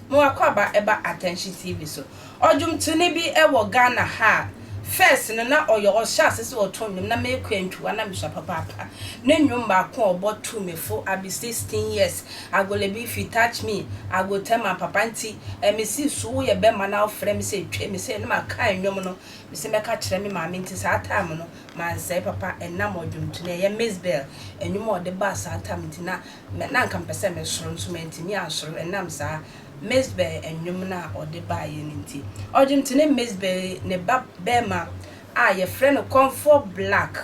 Moakwaba ɛba Atɛnkye TV so. Ɔdwomtoni bi wɔ Ghana ha a, first no na ɔyɛ ɔhyɛ ase sɛ ɔto nnwom na mekɔ antwiwa na mesua papaapa. Ne nnwom baako a ɔbɔ too me fo, I be sixteen years, I go lebe if you touch me I go tell my papa nti eh me se so woyɛ bɛma na wofrɛ me sɛ twa me sɛ na ma kan nnwom no me se mɛka kyerɛ me maame nti saa time no mansɛe papa ɛnam ɔdwomto no ɛyɛ Mizbel nnwom a ɔde baa saa time nti na na anka mepɛ sɛ me soro nso mantumi ansoro ɛnam saa Mizbel nnwom no a ɔde baeɛ no nti ɔdwomto ne Mizbel ne ba bɛma a yɛfrɛ no Comfort Black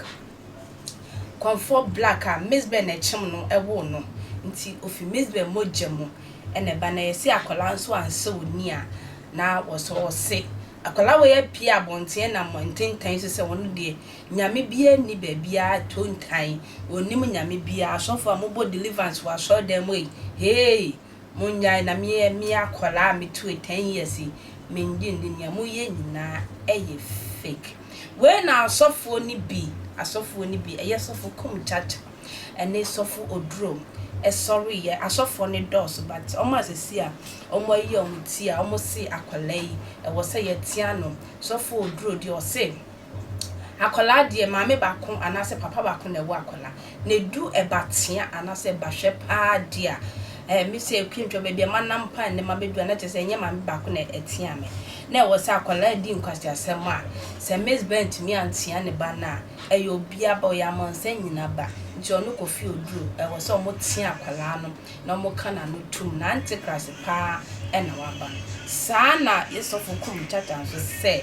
Kwanfoɔ Black a Mizbeh na ɛkyem no woo no nti ofi Mizbeh mogya mu na ɛba na yɛse akwadaa nso ansɔ oni a na wɔsɔ ɔse akwadaa wei apue abɔnten nam ntentan so sɛ ɔno deɛ Nyame biara nni baabiara tontan ɔnnim Nyame biara asɔfoɔ a mobɔ deliverance wɔ asɔredan mu ei heei Monnyae na meyɛ me akwadaa a metue ten years yi mennye nni nea moyɛ nyinaa yɛ fake wei na asɔfoɔ no bi asɔfoɔ no bi ɛyɛ sɔfo kum kyakya ɛne sɔfo oduro ɛsɔreeɛ asɔfoɔ no dɔɔso but wɔn a sɛsi a wɔn ayi wɔn ti a wɔn se akwadaa yi ɛwɔ sɛ yɛtea no sɔfo oduro deɛ ɔse Akwadaa deɛ maame baako anaasɛ papa baako na ɛwɔ akwadaa. Na ɛdu ɛba tea anaasɛ ɛba hwɛ paa deɛ a, ɛɛ me sɛ Kwantwa baabi a manam paa nnɛ mabɛduru a, na kyerɛ sɛ ɛnyɛ maame baako na ɛtea me. Na ɛwɔ sɛ akwadaa redi nkwaseasɛm a, sɛ Miss Bɛn antumi antea ne ba no a, ɛyɛ obiara ba, ɔyɛ amansan nyinaa ba. Nti ɔno kɔfie oduru, ɛwɔ sɛ wɔtea akwadaa no. na wɔka n'ano tom na antikrist paa na waba no. Saa na yɛ sɔfo kum tata nso sɛ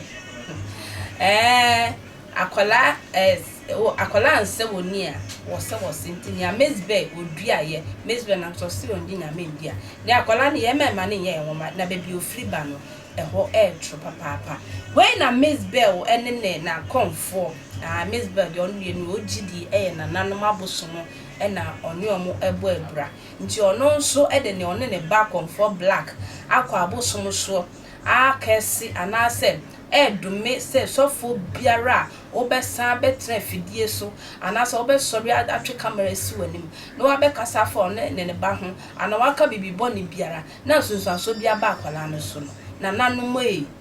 ɛɛ akwadaa ɛɛ o akwadaa nsɛ wɔ ni a wɔsɛ wɔsɛ nti nea mezbɛ odua yɛ mezbɛ nam sɛ ɔsɛ wɔn di nyame ndi a ne akwadaa no yɛ mɛma ne nyɛ yɛ nwoma na baabi ofiri ba no ɛhɔ ɛɛ toro papaapa wei na mezbɛ o ɛne ne na kɔnfoɔ aa mezbɛ deɛ ɔno yɛ ni o gyidi ɛyɛ nananom abosom na ɔne wɔn bɔ abira. Nti ɔno nso de nea ɔne ne ba akɔmfoɔ Black akɔ abosom soɔ akɛɛse anaasɛ ɛredome sɛ sɔfoɔ biara a wobɛsan bɛtena afidie so anaasɛ wobɛsɔre atwe camera asi w'anim na wabɛkasa afa ɔne ne ne ba ho anaa waka biribi bɔne biara na nsunsuansoɔ bi aba akwadaa no so no. Nananom ei!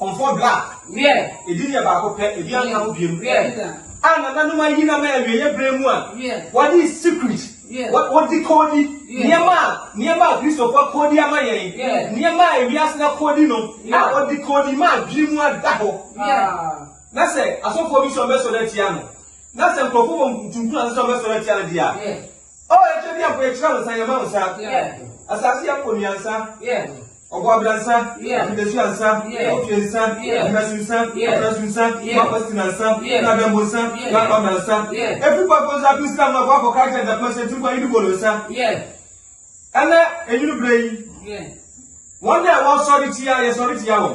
Kɔmfɔ dɔ a, edi deɛ baako pɛ, ebi anka ho biom, a nananom ayi nam a awieɛ berɛ mu a wɔde secret, wɔde koodi nneɛma a nneɛma a Kristofo akoodi ama yɛn, nneɛma a wiase no akoodi no, a wɔde koodi ma adwene mu ada hɔ. Na sɛ asɔfoɔ bi sɛ wɔbɛsɔre atia no, na sɛ nkurɔfo bɔ ntuntunu ase sɛ wɔbɛsɔre atia no deɛ a, Oh, ɛkyɛ biako, yɛkyerɛ wo nsa, yɛma wo nsa. Asase yɛ kɔ nnuansa. Ɔbɔ abira nsa, akotatua nsa, ɔtwe nsa, ɔhɛso nsa, ɔfɛso nsa, ɔmapɔstina nsa, nadambo nsa, nakɔda nsa. Efi kɔ akɔnso ato Islam akɔ akɔ kaa kyɛ dapɛn sɛ tiri kɔ ayidi bolo nsa. Ɛnɛ enyini bere yi, wɔn a ɛwɔ sɔre tia yɛ sɔre tia wɔn.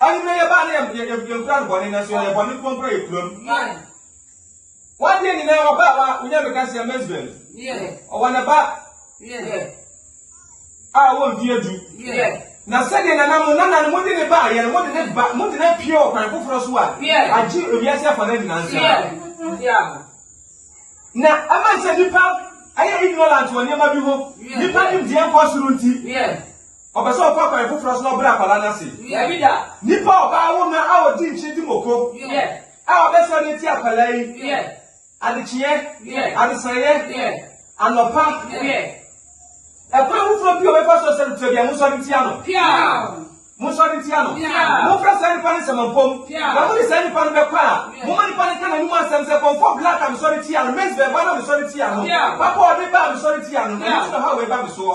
Anwummerɛ yɛbaa na yɛ, yɛ, yɛnkura no bɔne, nanso yɛyɛ bɔne nko mpo na yɛkura mu. Wadeɛ nyinaa wɔbaa wa, wonya bɛka sɛ Mesbel. Ɔwɔ ne ba a ɔwɔ mfeɛ du. Na sɛdeɛ nana mo nana no mode ne baa yɛ no, mode ne ba, mode ne pie wɔ kwan foforɔ so a, agye ewiase afa no nyinaa nsam. Na ɛma sɛ nipa ɛyɛ ignorant wɔ nneɛma bi ho, nipa nimdeɛ nkɔ soro nti. Ɔpɛ sɛ ɔfa kwan foforɔ so na ɔbrɛ akwadaa no ase. Dabi da. Nipa a ɔbaa wo na a ɔdi nkyene di moko a ɔbɛsɔre atia akwadaa yi adekyeɛ, adesaeɛ, anɔpa, ɛkwan foforɔ bi a ɔbɛfa so sɛ no tua bia monsɔre ntia no. Monsɔre ntia no. Momfrɛ saa nipa no nsɛmampom. Na mode saa nipa no bɛkɔ a, momma nipa no nka n'anom asɛm sɛ kɔmfɔ black a mesɔre tia no, maize bɛɛba no a mesɔre tia no, papa a ɔde ba a mesɔre tia no, ɛno nti na ɔhaw wei ba me soɔ.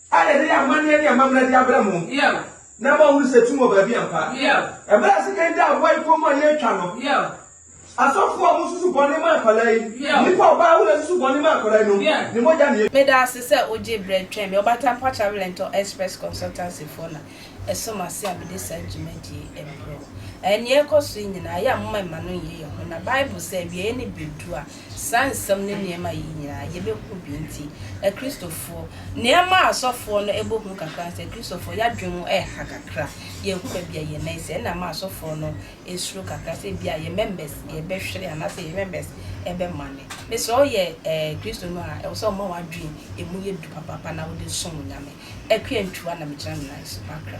A Yɛde amanneɛ ne amammerɛ de abrɛ mo na ama woahunu sɛ tum wɔ baabi ampa. Bere a sekan daa boae kɔm a yɛretwa no, asɔfo a wɔsusu bɔne ma nkwadaa yi, nnipa a ɔbaa ahorow susu bɔne ma nkwadaa yinom, ne mogya na yɛtwa. Meda ase sɛ wogye berɛ twɛn me. Ɔbaatan Pa Travel and Tour Express Consultancy foɔ na ɛso m'ase a mede saa dwumadie yi rebrɛ wo. Ɛɛ, nea ɛrekɔ so yi nyinaa, yɛ a momma mma no nnyɛ yɛn hu. Na Bible se, awieeɛ nne bɛdu a, Saa nsɛm ne nneɛma yi nyinaa yɛbɛhu bi nti, Akristofoɔ, nea ɛma asɔfoɔ no bɔ hu kakra ne sɛ, Akristofoɔ, yɛn adwene mu ha kakra. Yɛnhu baabi a yɛn nan si. Ɛna ɛma asɔfoɔ no suro kakra sɛ ebia yɛn members bɛhwere anaasɛ yɛn members bɛmane. Mesrɛ wo, woyɛ Kristoni a, ɛwɔ sɛ woma w'adwene mu yɛ duru papaapa na wode som Nyame. Akwantuwa na megyina me nan so m'akra.